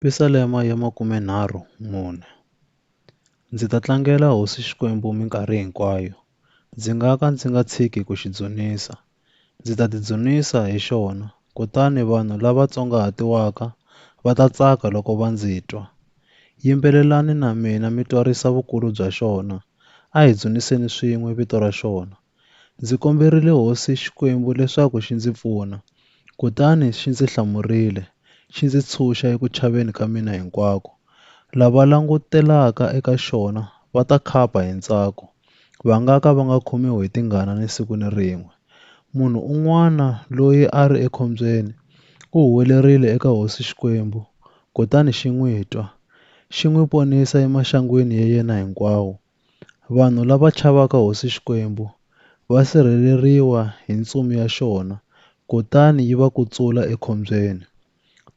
Pisalema ya makumenharhu mune. Ndzi ta tlangela Hosi Xikwembu minkarhi hinkwayo, ndzi nga ka ndzi nga tshiki ku xi dzunisa. Ndzi ta tidzunisa hi xona, kutani vanhu lava tsongahatiwaka va ta tsaka loko va ndzi twa. Yimbelelani na mina mi twarisa vukulu bya xona, a hi dzuniseni swin'we vito ra xona, Ndzi komberile Hosi Xikwembu leswaku xi ndzi pfuna, kutani xi ndzi hlamurile, xi ndzi tshunxa eku chaveni ka mina hinkwako. Lava langutelaka eka xona va ta khapa hi ntsako, va nga ka va nga khomiwi hi tingana ni siku ni rin'we. Munhu un'wana loyi a ri ekhombyeni u huwelerile eka Hosi Xikwembu, kutani xi n'wi twa, xi n'wi ponisa emaxangwini ya yena hinkwawo, Vanhu lava chavaka Hosi Xikwembu va sirheleriwa hi ntsumi ya xona kutani yi va kutsula ekhombyeni.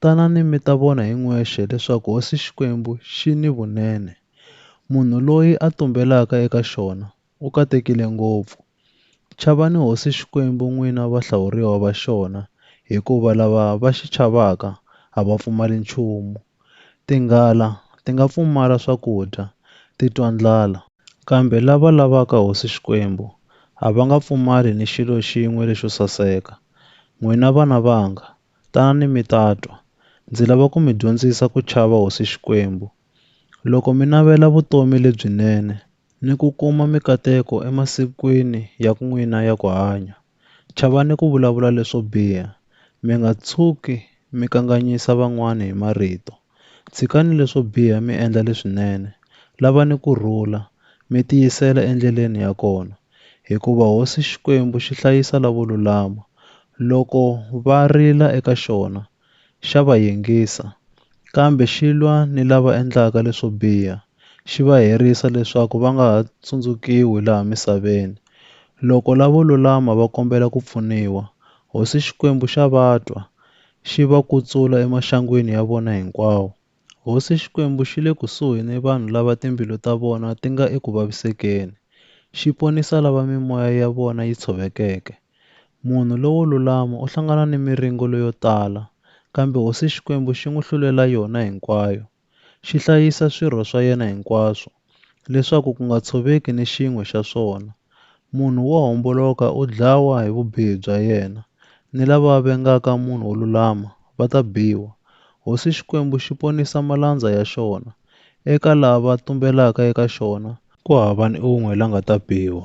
Tanani mi ta vona hi n'wexe leswaku Hosi Xikwembu xi ni vunene. Munhu loyi a tumbelaka eka xona u katekile ngopfu. Chavani hosi Xikwembu n'wina vahlawuriwa va xona, hikuva lava va xi chavaka a va pfumali nchumu. Tinghala ti nga pfumala swakudya, ti twa ndlala. Kambe lava lavaka hosi Xikwembu a va nga pfumali ni xilo xin'we lexo saseka. N'wina vana vanga, tanani mi ta twa. Ndzi lava ku mi dyondzisa ku chava hosi Xikwembu, Loko mi navela vutomi lebyinene ni ku kuma mikateko emasikwini ya n'wina ya ku hanya, chavani ku vulavula leswo biha. Mi nga tshuki mi kanganyisa van'wana hi marito. Tshikani leswo biha mi endla leswinene. Lavani ku rhula, mi tiyisela endleleni ya kona, hikuva Hosi Xikwembu xi hlayisa lavo lulama. Loko va rila eka xona, xa va yingisa, kambe xi lwa ni lava endlaka leswo biha, xi va herisa leswaku va nga ha tsundzukiwi laha misaveni. Loko lavo lulama va kombela ku pfuniwa, Hosi Xikwembu xa va twa, xi va kutsula emaxangwini ya vona hinkwawo. Hosi Xikwembu xi le kusuhi ni vanhu lava timbilu ta vona ti nga eku vavisekeni, xi ponisa lava mimoya ya vona yi tshovekeke. Munhu lowo lulama u hlangana ni miringo leyo tala, kambe Hosi Xikwembu xi n'wi hlulela yona hinkwayo. Xi hlayisa swirho swa yena hinkwaswo, leswaku ku nga tshoveki ni xin'we xa swona. Munhu wo homboloka u dlawa hi vubihi bya yena, ni lava vengaka munhu wo lulama va ta biwa. Hosi Xikwembu xi ponisa malandza ya xona, eka lava tumbelaka eka xona ku hava ni un'we la nga ta biwa.